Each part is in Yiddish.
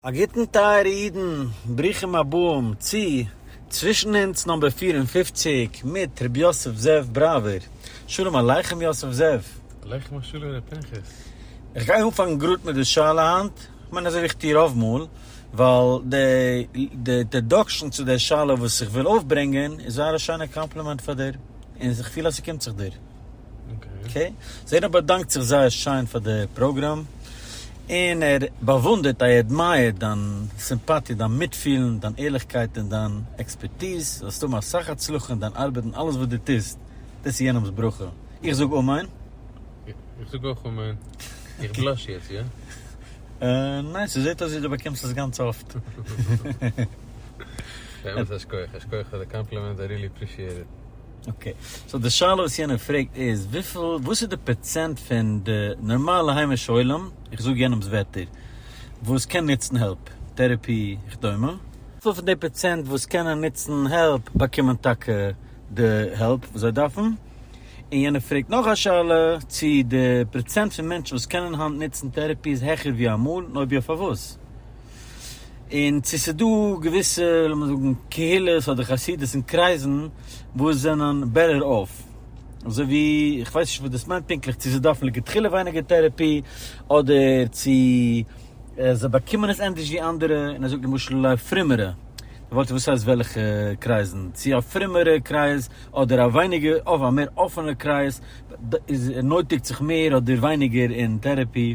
א גוטן טייערע אידן, ברוכים הבאים צו צווישן אונז נאמבער פֿיר און פֿופֿציק מיט ר' יוסף זאב בראווער, שלום עליכם יוסף זאב. עליכם השלום ר' פנחס. איך גיי אנפאנגן גראד מיט די שאלה היינט, איך מיין אזוי ווי איך טוה רוב מאל, ווייל די אינטערדאקשן צו די שאלה וואס איך וויל אויפברענגען איז זייער א שיינע קאמפלימענט פאר דיר, און איך פיל אז ס'קומט זיך דיר. אקעי, סאו יענער באדאנקט זיך זייער שיין פאר די פראגראם, און ער באוואונדערט איי עדמייער דיין סימפאטיע, דיין מיטפילן, דיין ערליכקייט און דיין עקספערטיז, זאלסט האבן אסאך הצלחה אין דיין ארבעט און אלעס וואס דו טוסט, דאס איז יענעמ'ס ברכה, איך זאג אמן. איך זאג אויך אמן. איך בלאש יעצט, יא? ניין, ס'זעט אויס ווי דו באקומסט עס גאנץ אפט. באמת א שכוח, א שכוח פאר די קאמפלימענט, איי רילי עפרישיעט איט. אקעי, סאו די שאלה וואס יענער פרעגט איז וויפיל, וואס איז די פראצענט פון די נארמאלע היימישע עולם, איך זאג יענעמ'ס ווערטער, וואס קען נוצן העלפ, טערעפי וכדומה, וויפיל פון די פראצענט וואס קענען נוצן העלפ באקומען טאקע די העלפ וואס זיי דארפן, און יענער פרעגט נאך א שאלה צי די פראצענט פון מענטשן וואס קענען היינט נוצן טערעפי איז העכער ווי אמאל, און אויב יא פארוואס. און צו ס'איז דא געוויסע לאמיר זאגן קהילות אדער חסידות'ן קרייזן וואס זענען בעטער אףף, אזוי ווי איך ווייס נישט וואס דאס מיינט פונקטליך צו זיי דארפן לכתחילה ווייניגער טערעפי אדער צו זיי באקומען עס ענדערש ווי אנדערע, און ער זאגט למשל אולי פרומערע, ווארט וואס הייסט וועלכע קרייזן? צו א פרומערע קרייז אדער א ווייניגער אויף א מער אפענע קרייז איז נויטיגט זיך מער אדער ווייניגער אין טערעפי?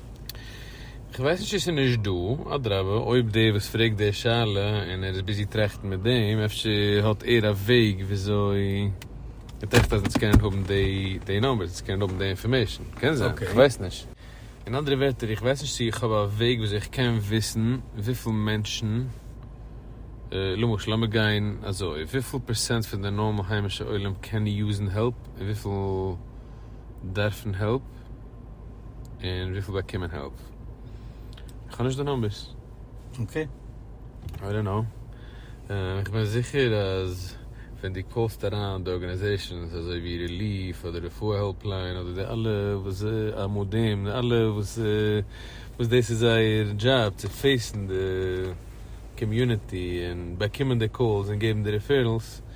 כ'ווייס נישט צו ס'איז נישט דא, אדרבה אויב דער וואס פרעגט די שאלה און ער איז ביזי טראכטן מיט דעם אפשר האט ער א וועג וויאזוי ער טראכט אז אונז קענען האבן די נאמבערס, אונז קענען האבן די אינפארמעישן, קען זיין, כ'ווייס נישט. אין אנדערע ווערטער איך ווייס נישט צו איך האב א וועג וויאזוי איך קען וויסן וויפיל מענטשן, למשל לאמיר גיין אזוי, וויפיל פערסענט פון די נארמאל היימישע עולם קען יוזן העלפ און וויפיל דארפן העלפ, און וויפיל באקומען העלפ? כ'האב נישט די נומבערס. אקעי. איי דאנט קנאו. איך בין זיכער אז ווען דו קאלסט אריין די ארגענעזעישאנס אזוי ווי ריליעף אדער רפואה העלפליין אדער די אלע וואס א מ ד די אלע וואס וואס דאס איז זייער דזשאב צו פעיסן די קאמיוניטי און באקומען די קאלס און געבן די ריפערעלס.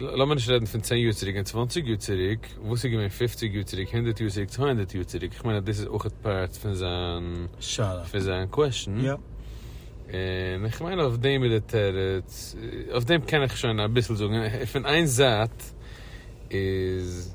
לאמיר נישט רעדן פון צען יאר צוריק און צוואנציג יאר צוריק, וואס איז געווען פופציג יאר צוריק, הונדערט יאר צוריק, צוויי הונדערט יאר צוריק, איך מיין אז דאס איז אויך פארט פון זיין שאלה, פון זיין קוועשן, יאפ. און איך מיין אויף דעם איז די תירוץ, אויף דעם קען איך שוין אביסל זאגן, פון איין זייט איז.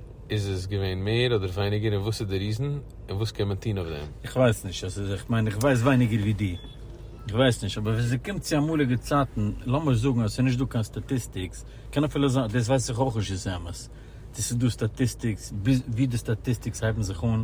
איז עס געווען מער אדער ווייניגער און וואס איז די ריזען און וואס קען מען טוהן אויף דעם? איך ווייס נישט, עס איז, איך מיין איך ווייס ווייניגער ווי דו, איך ווייס נישט, אבער ווען ס'קומט צו אמאליגע צייטן, לאמיר זאגן אז ס'איז נישט דא קיין סטאטיסטיקס, קען אפילו זיין, דאס ווייס איך אויך נישט איז אמת, צו ס'איז דא סטאטיסטיקס, ווי די סטאטיסטיקס הייבן זיך אן,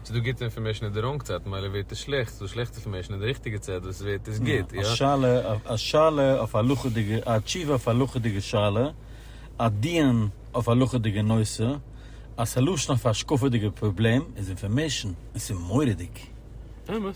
ס'איז דא גוטע אינפארמעישן אין די ראנג צייט ממילא ווערט עס שלעכט, ס'איז דא שלעכטע אינפארמעישן אין די ריכטיגע צייט וואס ווערט עס גוט, יא? א שאלה, א שאלה אויף א הלכה'דיגע, א תשובה אויף א הלכה'דיגע שאלה, א דיון אויף א הלכה'דיגע נושא, א סעלושן אויף א השקפה'דיגע פראבלעם, איז אינפארמעישן, און ס'איז מורא'דיג. אמת.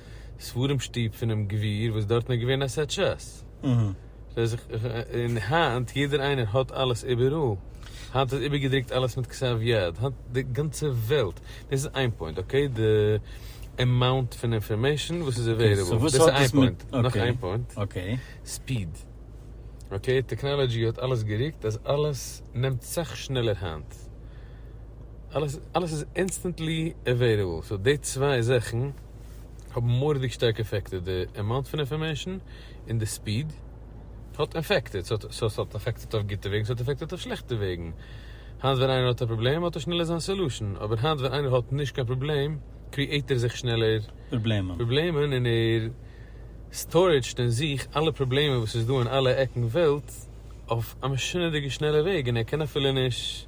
ספרים שטוב פונעם גביר וואס דארטן איז געווען א סעט ש ס, און היינט יעדער איינער האט אלעס איבעראל, היינט איז איבערגעדרוקט אלעס מיט כתב יד, היינט די גאנצע וועלט, דאס איז איין פוינט, אקעי, די עמאונט פון אינפארמעישן וואס איז עוועילעבל, דאס איז איין פוינט, נאך איין פוינט, ספיד, אקעי, טעקנאלאדזשי האט אלעס גערוקט אז אלעס נעמט סאך שנעלער היינט, אלעס איז אינסטענטלי עוועילעבל, סאו די צוויי זאכן. האבן מורא'דיג שטארק עפעקטעד די עמאונט פון אינפארמעישן און די ספיד האט עפעקטעד, סאו ס'האט עפעקטעד אויף גוטע וועגן ס'האט עפעקטעד אויף שלעכטע וועגן, היינט ווען איינער האט א פראבלעם האט ער שנעלער זיין סעלושען, אבער היינט ווען איינער האט נישט קיין פראבלעם קריעיט ער זיך שנעלער פראבלעמען און ער סטארעדזשט אין זיך אלע פראבלעמען וואס איז דא אין אלע עקן וועלט אויף א משונה'דיגע שנעלע וועג און ער קען אפילו נישט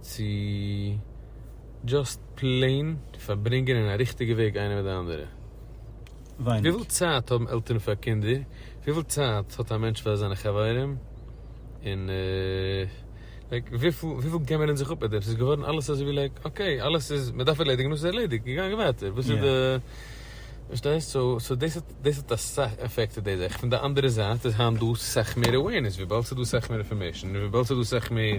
צו דזשאסט פלעין פארברענגען אין א ריכטיגע וועג איינער מיט די אנדערע. וויפיל צייט האבן עלטערן פאר קינדער? וויפיל צייט האט א מענטש פאר זיינע חברים? און לייק וויפיל געבן מיר אונז זיך אפ מיט דעם? ס'איז געווארן אלעס אזויווי לייק אקעי אלעס איז מ'דארף ערלעדיגן נאר ס'איז ערלעדיגט געגאנגען ווייטער וואס איז די פארשטייסט? סאו דאס האט דאס האט אסאך עפעקטעד די זאך. פון די אנדערע זייט איז היינט דא סאך מער עווערנעס וויבאלד ס'איז דא סאך מער אינפארמעישן און וויבאלד ס'איז דא סאך מער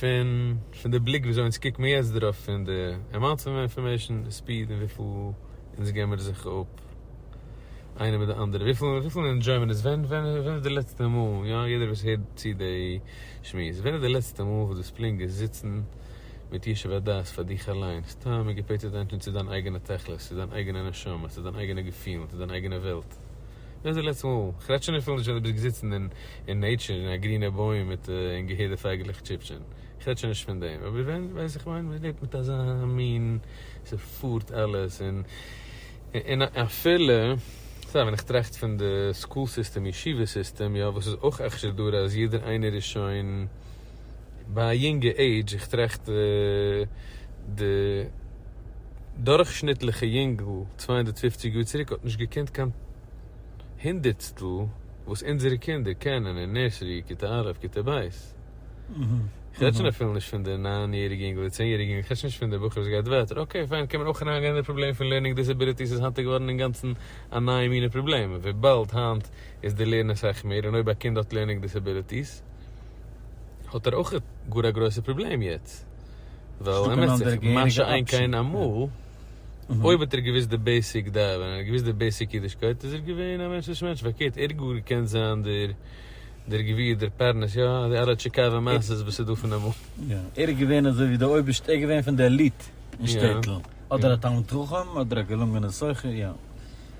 פון פון די בליק וויאזוי אונז קוקט מיר יעצט דערויף פון די עמאונט פון אינפארמעישן די ספיד און וויפיל אונז געבן מיר זיך אפ איינער מיט די אנדערע וויפיל וויפיל ענדזשוי מען עס ווען ווען ווען איז די לעצטע מאל יא יעדער וואס הערט צו די שמועס ווען איז די לעצטע מאל וואס דו האסט פלינק געזיצן מיט ישוב הדעת פאר דיך אליין סתם געפעטשעט ענטפערן צו דיין אייגענע תכלית צו דיין אייגענע נשמה צו דיין אייגענע געפילן צו דיין אייגענע וועלט. ווען איז די לעצטע מאל? איך רעד שוין אפילו נישט ווען דו ביסט געזיצן אין אין נעטשור אין א גרינע בוים מיט און געהערט די פייגעלעך טשיפטשען, איך רעד שוין נישט פון דעם, אבער ווען ווייסט איך מיין מען לעבט מיט אזא מין ס'פארט אלעס און און אפילו סא ווען איך טראכט פון די סקול סיסטעם ישיבה סיסטעם יא וואס איז אויך אכשר דרא אז יעדער איינער איז שוין ביי א יונגע עידזש, איך טראכט די דורכשניטליכע יונגל צוויי הונדערט פֿופֿציק יאר צוריק האט נישט געקענט קיין הונדערטסטל וואס אונזערע קינדער קענען אין נערסערי, כיתה א', כיתה ב'. איך רעד שוין אפילו נישט פון די ניין יעריגע יונגל, די צען יעריגע יונגל, איך רעד שוין נישט פון די בחור וואס גייט ווייטער, אקעי פיין קען מען אויך אריינגיין אין די פראבלעם פון לערנינג דיסעביליטיס איז היינט געווארן אינגאנצן א נייע מינע פראבלעם וויבאלד היינט איז די לערנען סאך מער און אויב א קינד האט לערנינג דיסעביליטיס האט ער אויך גאר א גרויסע פראבלעם יעצט, ווייל ער מעסט זיך מה שאין כן אמאל, אויב האט ער געוויסט די בעיסיק ד ו, און געוויסט די בעיסיק אידישקייט, איז ער געווען א מענטשליכע מענטש, פארקערט ער האט גאר געקענט זיין דער דער גביר דער פרנס, יא, די אלע טשיקאווע מעשות וואס איז דא פון אמאל. יא, ער איז געווען אזוי ווי די אויבערשטע, ער איז געווען פון די עליט אין שטעטל, אדער א תלמיד חכם, אדער א געלונגענע סוחר, יא.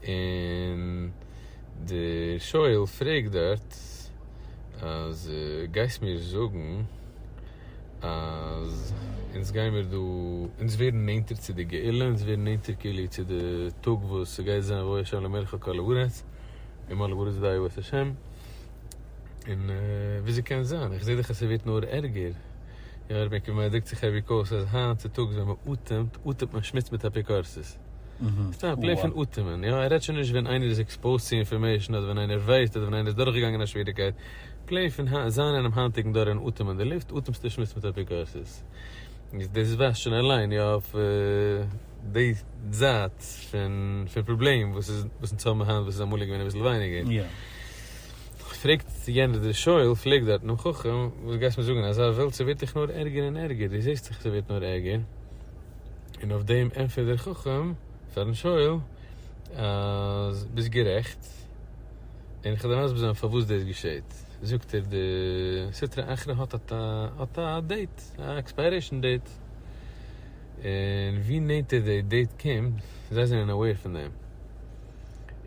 און דער שואל פרעגט דארט אז גייסט מיר זאגן אז אונז גיי מיר דא אונז ווערן נענטער צו די גאולה אונז ווערן נענטער כאילו צו די טאג וואס ס'גייט זיין ויבא השם למלך על כל הארץ און מלא בארץ דעה בית השם און וויאזוי קען זיין איך זעה דאך אז ס'ווערט נאר ערגער און מ'דרוקט זיך אוועק אויס אז היינט צוטאגס ווען מ'אטעמט אטעמט מען שמוץ מיט אפיקורסות. סתם א פלעי פון אטעמען, יא, ער רעדט שוין נישט ווען איינער איז עקספאוזט צו אינפארמעישן אדער ווען איינער ווייסט אדער ווען איינער איז דורכגעגאנגען א שוועריגקייט, פלעי פון זיין אינעם היינטיגן דור און אטעמען די לופט, אטעמסטו שמוץ מיט אפיקורסות. יעצט דאס ווייזט שוין אליין יא אויף די זייט פון פראבלעם וואס אונז האבן היינט וואס איז אמאליג געווען אביסל ווייניגער. פרעגט יענער דער שואל פרעגט דארט דעם חכם, וואס גייסט מיר זאגן, אזא וועלט ס'ווערט דאך נאר ערגער און ערגער, דו זעסט דאך ס'ווערט נאר ערגער, און אויף דעם ענטפערט דער חכם פארן שואל אז ביסט גערעכט, און איך וועל דיר מסביר זיין פארוואס דאס געשעהט, זאגט ער די סטרא אחרא האט א דעיט, א עקספיירעישאן דעיט, און ווי נענטער די דעיט קומט, זיי זענען אוועיר פון דעם,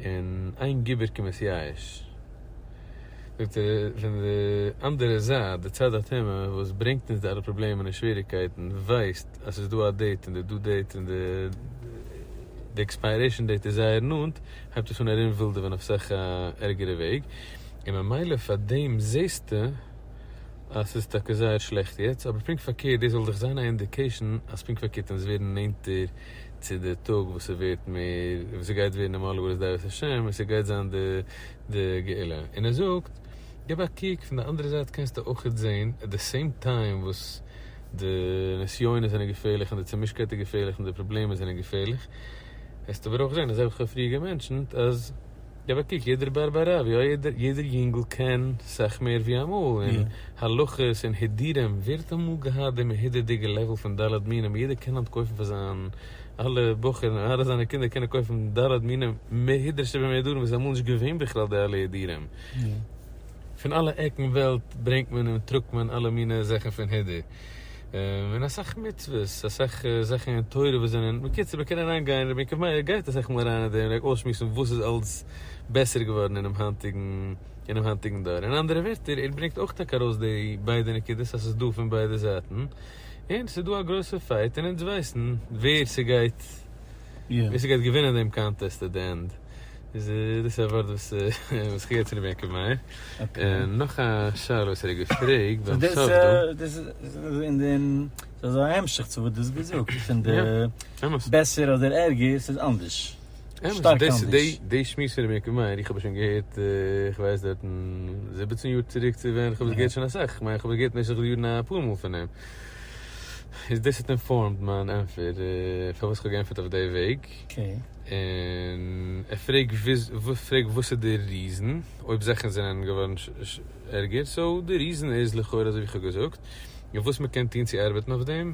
און איין געבער קומען צו ייאוש. זאגט ער פון די אנדערע זייט די צד הטומאה וואס ברענגט אונז די אלע פראבלעמען און שוועריקייטן ווייסט אז ס'איז דא א דעיט און די דו דעיט און די עקספיירעישן דעיט איז זייער נאנט הייבט עס אן ארום ווילדעווען אויף אסאך א ערגערע וועג און ממילא פאר דעם זעסטו אז ס'איז טאקע זייער שלעכט יעצט אבער פונקט פארקערט דאס זאל דאך זיין א אינדיקעישן אז פונקט פארקערט אונז ווערן נענטער צו די טאג וואס ס'ווערט מער וואס ס'גייט ווערן אים אלל אווער איז דעת השם און ס'גייט זיין די די גאולה, און ער זאגט גיב א קוק פון די אנדערע זייט קענסטו אויכעט זעהן עט די סעים טיים וואס די נסיונות זענען געפערליך און די צומישקייט איז געפערליך און די פראבלעמען זענען געפערליך העסטו ברויך זעהן אזוי ווי כ'האב פריער געמענטשענט אז גיב א קוק יעדער בר בי רב יא יעדער יונגעל קען סאך מער ווי אמאל און הלכות און הידורים ווער האט אמאל געהאט די מהודר'דיגע לעוועל פון ד' מינים יעדער קען היינט קויפן פאר זיין אלע בחורים און אלע זיינע קינדער קענען קויפן ד ר מינים מהידרה שבמהידרים וואס איז אמאל נישט געווען בכלל די אלע הידורים. פון אלע עקן וועלט ברענגט מען און טראגט מען אלע מיני זאכן פון הידור. און אסאך מצוות, אסאך זאכן אין תורה וואס זענען, בקיצור מען קען אריין גיין, רבי יעקב מאיר גייט אסאך מאל אריין אין דעם, אויסשמועסן וואס איז אלס בעסער געווארן אינעם היינטיגן אינעם היינטיגן דור. אין אנדערע ווערטער ער ברענגט אויך טאקע ארויס די ביידע נקודות אז ס'איז דא פון ביידע זייטן. און ס'איז דא א גרויסע פייט און אונז ווייסן ווער ס'גייט ווער ס'גייט געווינען דעם קאנטעסט עט די ענד. איז דאס א ווארט וואס וואס כ'געב צו רבי יעקב מאיר. און נאך א שאלה וואס ער האט געפרעגט ביים סוף דא. דאס איז אין דעם ס'איז אזא המשך צו וואס דו האסט געזאגט פון די בעסער אדער ערגער ס'איז אנדערש. שטארק אנדערש. די שמועס פון רבי יעקב מאיר, איך האב עס שוין געהערט, איך ווייס דארט אין זיבעצן יאר צוריק צו ווען, איך האב עס געהערט שוין אסאך, כ'מיין איך האב עס געהערט במשך די יארן אפאר מאל פון אים. איז דאס האט אינפארמד מיין ענטפער פארוואס כ'האב געענטפערט אויף די וועג. און איך פרעג וואס איז די ריזען, אויב זאכן זענען געווארן ערגער, סאו די ריזען איז לכאורה אזוי ווי איך האב געזאגט, און וואס מ'קען טון צו ארבעטן אויף דעם.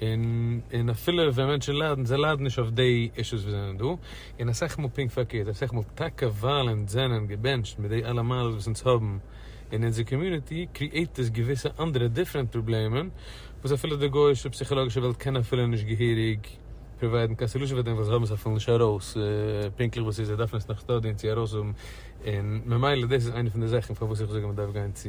און אפילו ווען מענטשן ליידן, זיי ליידן נישט אויף די אישוס וואס זענען דא, און אסאך מאל פונקט פארקערט, אסאך מאל טאקע ווייל אונז זענען געבענטשט מיט די אלע מעלות וואס אונז האבן אין אונזער קאמיוניטי, קריעיט עס געוויסע אנדערע דיפרענט פראבלעמען, וואס אפילו די גוי'אישע פסיכאלאגישע וועלט קען אפילו נישט געהעריג פראוויידן קיין סעלושען פאר דעם, ווייל זיי האבן עס אפילו נישט ארויס פונקטליך וואס ס'איז, זיי דארפן עס נאך שטודיען צו ארויסהאבן, און ממילא דאס איז איינע פון די זאכן פארוואס איך זאג אז מ'דארף גיין צו.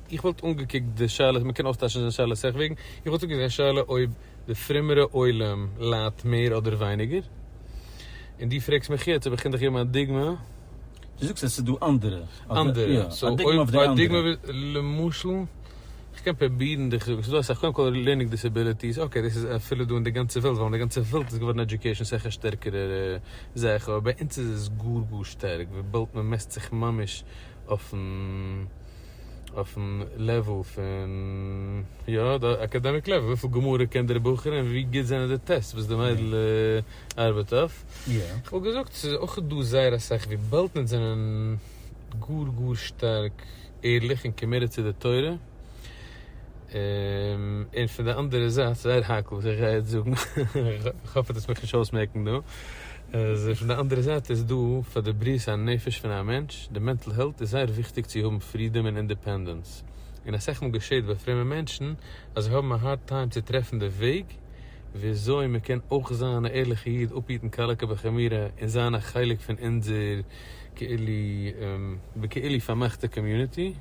איך וואלט אנגעקוקט די שאלות, מ'קען אויסטייטשן די שאלות אסאך וועגן, איך וואלט אנגעקוקט די שאלה אויב די פרומערע עולם ליידט מער אדער ווייניגער, און דו פרעגסט מיך יעצט אויב איך קען דיך געבן א דוגמא. דו זאגסט אז עס איז דא אנדערע. אנדערע, סאו אויב א דוגמא למשל, איך קען פרובירן דיך זאגן, ס'איז דא אסאך, קודם כל לערנינג דיסעביליטיס, אקעי דאס איז אפילו דא אין די גאנצע וועלט, ווייל אין די גאנצע וועלט איז געווארן עדיוקעישן אסאך א שטערקערער זאך, אבער ביי אונז איז עס גאר גאר שטארק, וויבאלד מ'מעסט זיך ממש אויפן. אויפן לעוועל פון יא די אקעדעמיק לעוועל וויפיל גמרא קען דער בחור און ווי גוט זענען די טעסטס וואס די מיידל ארבעט אויף, איך וואלט געזאגט ס'איז אויך דא זייער אסאך וויבאלד מיר זענען גאר גאר שטארק ערליך און קאמיטעד צו די תורה, און פון די אנדערע זייט זייער הייקל וואס איך גיי יעצט זאגן, איך האף ער טוט עס מיך נישט אויסמעקן דא. איז פון די אנדערע זייט איז דא פאר די בריאות הנפש פון א מענטש די מענטל העלט איז זייער וויכטיג צו האבן פרידאם און אינדעפענדענס און אסאך מאל געשעט ביי פרומע מענטשן אז זיי האבן א הארד טיים צו טרעפן די וועג וויאזוי מען קען אויך זיין א ערליכע איד אפהיטן קלה כבחמירא און זיין א חלק פון אונזער כאילו בכאילו פארמאכטע קאמיוניטי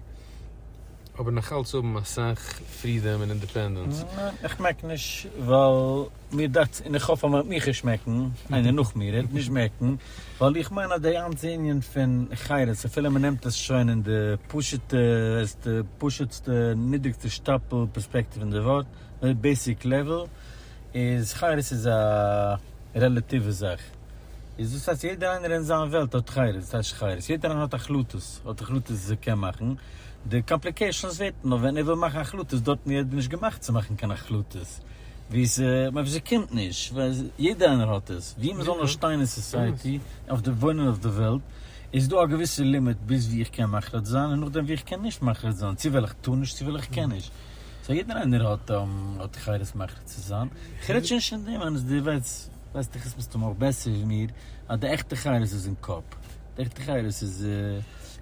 אבער נאכאלץ האבן אסאך פרידאם און אינדעפענדענס. איך מעק נישט ווייל. מיר דאכטס, און איך האף אז מען וועט מיך ערשט מעקן, איינער נאך מיר, ער וועט נישט מעקן, ווייל איך מיין אז די גאנצע ענין פון חירות, אפילו מען נעמט עס שוין אין די פשוט'ע, העסטע, פשוט'סטע, נידריגסטע שטאפל פערספעקטיוו אין די ווארט, די בעיסיק לעוועל, איז חירות איז א רעלאטיווע זאך. איז דאס הייסט יעדער איינער אין זיין וועלט האט חירות, וואס הייסט חירות? יעדער איינער האט החלטות, האט החלטות וואס ער קען מאכן, די קאמפליקעישאנס ווערט נאר ווען ער וויל מאכן החלטות, דארטן איז ער נישט געמאכט צו מאכן קיין החלטות. ווי עס אויב עס קומט נישט ווייל יעדער איינער האט עס ווי מען זאל נאר שטיין אין סאסייעטי אויף די וואוינען אויף די וועלט איז דא א געוויסע לימיט ביז ווי איך קען מחליט זיין און נאכדעם ווי איך קען נישט מחליט זיין צו וועל איך טון נישט צו וועל איך קען נישט סא יעדער איינער האט האט חירות מחליט צו זיין איך רעד שוין נישט פון דעם אז די וועלט ווייסט איך עס מסתמא אויך בעסער ווי מיר אז די עכטע חירות איז אין קאפ. עכטע חיות איז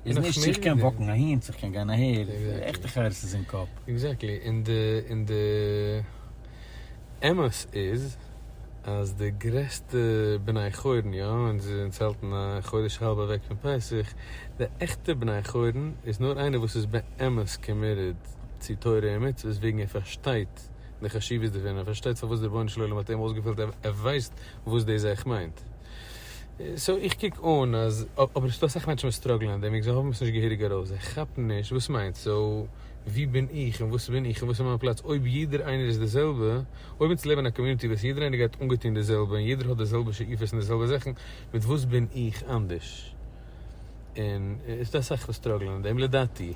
איז נישט צו איך קען וואקן אהין צו איך קען גיין אהער, עכטע חיות איז אין קאפ. עקזעקטלי, און די און די אמת איז אז די גרעסטע בני חורין יא, און זיי זענען זעלטן א חודש האלב אוועק פון פסח, די עכטע בני חורין איז נאר איינער וואס איז באמת קאמיטעד צו תורה און מצוות וועגן ער פארשטייט די חשיבות דערפון, ער פארשטייט פארוואס דער רבונו של עולם האט אים אויסגעוועלט, ער ווייסט וואס דאס אייך מיינט. סאו איך קוק אן אז, אבער ס'דא אסאך מענטשן וואס סטראגלען אט דעם וועגן זיי האבן עס נישט געהעריג ארויס, זיי כאפן נישט וואס מיינט סאו ווי בין איך און וואס בין איך און וואס איז מיין פלאץ אויב יעדער איינער איז די זעלבע, אויב אונז לעבן אין א קאמיוניטי וואס יעדער איינער גייט אנגעטון די זעלבע און יעדער האט די זעלבע שאיפות און די זעלבע זאכן, מיט וואס בין איך אנדערש? און איז דא אסאך וואס סטראגלען אין דעם לדעתי.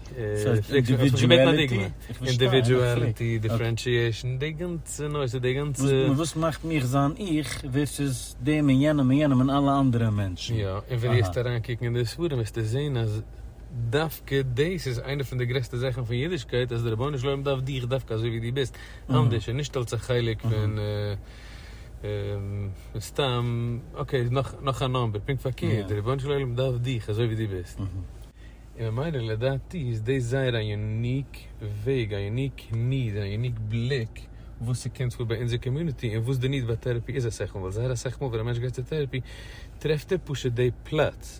אינדיווידואליטי, דיפרענשיעשן, די גאנצע נושא, די גאנצע. וואס מאכט מיך זיין איך ווערסעס דעם און יענעם און יענעם און אלע אנדערע מענטשן. יא, און ווען דו וועסט אריינקוקן אין די ספרים וועסטו זען אז דווקא דאס איז איינע פון די גרעסטע זאכן פון אידישקייט אז דער רבונו של עולם דארף דיך דווקא אזוי ווי דו ביסט, אנדערש און נישט אלס א חלק פון. מסתם, אקעי איז נאך נאך א נאמבער, פונקט פארקערט, דער רבונו של עולם דארף דיך אזוי ווי דו ביסט, און ממילא לדעתי איז דאס זייער א יוניק וועג, א יוניק ניד, א יוניק בליק וואס ס'קומט פאר ביי אונזער קאמיוניטי, און וואס די ניד ביי טערעפי איז אסאך מאל, ווייל זייער אסאך מאל ווען א מענטש גייט צו טערעפי טרעפט ער פשוט די פלאץ.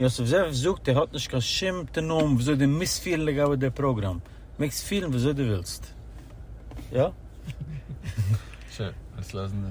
יוסף זאב זאגט ער האט נישט קיין שום תנאים וויאזוי דו מוזט פילן לגבי די פראגראם, מעגסט פילן וויאזוי דו ווילסט. יא? שוין, ווילסט לאזן די.